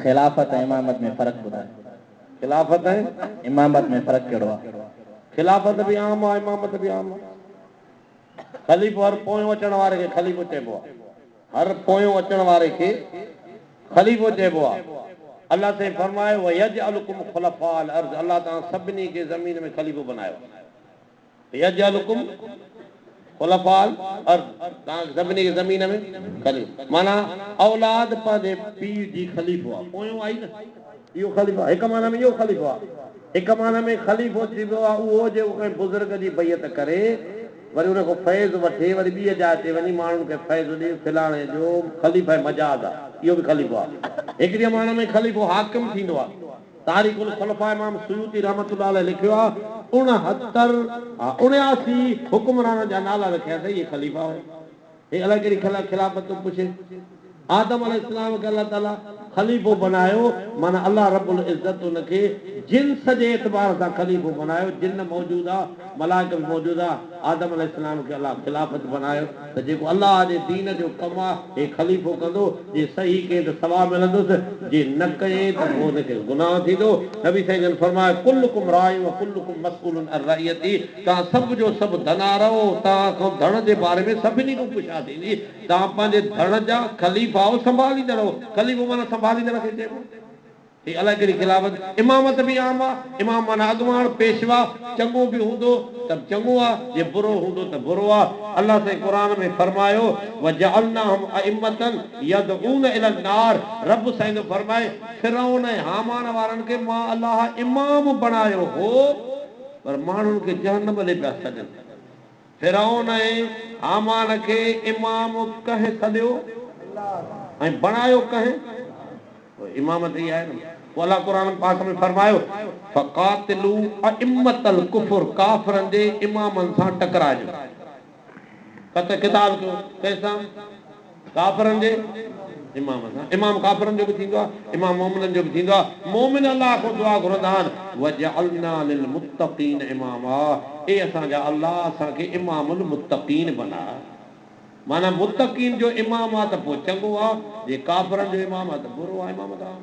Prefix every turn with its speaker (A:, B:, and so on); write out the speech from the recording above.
A: خلافت ۽ امامت ۾ فرق ٻڌاء. خلافت
B: ۽ امامت ۾ فرق
A: ڪهڙو آهي؟ خلافت به
B: عام آهي امامت به عام آهي. خليفو هر پويون اچڻ واري کي خليفو چئبو آهي. هر پويون اچڻ واري کي خليفو چئبو آهي. الله سائين فرمايو ويجعلڪم خلفاء الارض الله توهان سڀني کي زمين ۾ خليفو بنايو. يجعلکم خلفاء الارض توهان سڀني کي زمين ۾ خليفا معنيٰ اولاد پنهنجي پيء جي خليفو آهي پويون آهي نه اهو خليفو آهي هڪ معنيٰ ۾ اهو خليفو آهي هڪ معنيٰ ۾ خليفو چئبو آهي اهو جيڪو ڪنهن بزرگ جي بيعت ڪري وري ان کان فيض وٺي وري ٻيء جاء تي وڃي ماڻهن کي فيض ڏي فلاڻي جو خليفه مجاز آهي اهو به خليفو آهي هڪڙيء معنيٰ ۾ خليفو حاڪم ٿيندو آهي تاريخ الخلفاء امام سيوطي رحمة الله عليه لکيو آ، اڻهتر، آ، اڻياسي، حڪمرانن جا نالا رکيا تئي اهي خليفا هئا. هي الائي ڪهڙي خلا خلافت ٿو پڇي. آدم عليه السلام کي الله تعاليٰ خليفو بنايو معنيٰ الله رب العزت ان کي جنس جي اعتبار سان خليفو بنايو، جن موجود آ، ملائڪ به موجود آ، آدم عليه السلام کي الله خلافت بنايو. ته جيڪو الله جي دين جو ڪم آ هي خليفو ڪندو جي صحيح ڪئين ته ثواب ملندس جي نه ڪئين ته پوء هن کي گناهه ٿيندو نبي سائين جن فرمايو ڪلڪم راع و ڪلڪم مسئول عن رعيته توهان سڀ جو سڀ ڌنا رهو توهان کان ڌڻ جي باري ۾ سڀني کان پڇا ٿيندي توهان پنهنجي ڌڻ جا خليفا آهو سنڀاليندڙ آهو خليفو معنيٰ سنڀاليندڙ کي چئبو. هي الائي ڪهڙي خلافت امامت به عام آ امام معنيٰ اڳواڻ، پيشوا، چڱو به هوندو ته چڱو آ جي برو هوندو ته برو آ الله سائين قرآن ۾ فرمايو وجعلناهم ائمة يدعون الي النار رب سائين ٿو فرمائي فرعون ۽ هامان وارن کي مان الله امام بڻايو هو پر ماڻهن کي جهنم ڏي پيا سڏن. فرعون ۽ هامان کي امام ڪنهن سڏيو ۽ بڻايو ڪنهن؟ پوء امامت ئي آهي نه. پوء الله قرآن پاڪ ۾ فرمايو، فقاتلو ائمة الڪفر ڪافرن جي امامن سان ٽڪراء جو قتل قتال ڪيو. ڪنهن سان؟ ڪافرن جي امام سان امام ڪافرن جو به ٿيندو آهي امام مؤمنن جو به ٿيندو آهي مؤمن الله کان دعا گهرندا آهن وجعلنا للمتقين اماما اي اسان جا الله اسان کي امام المتقين بنا معنيٰ متقين جو امام آ ته پوء چڱو آ جي ڪافرن جو امام آ ته برو آ امام ته عام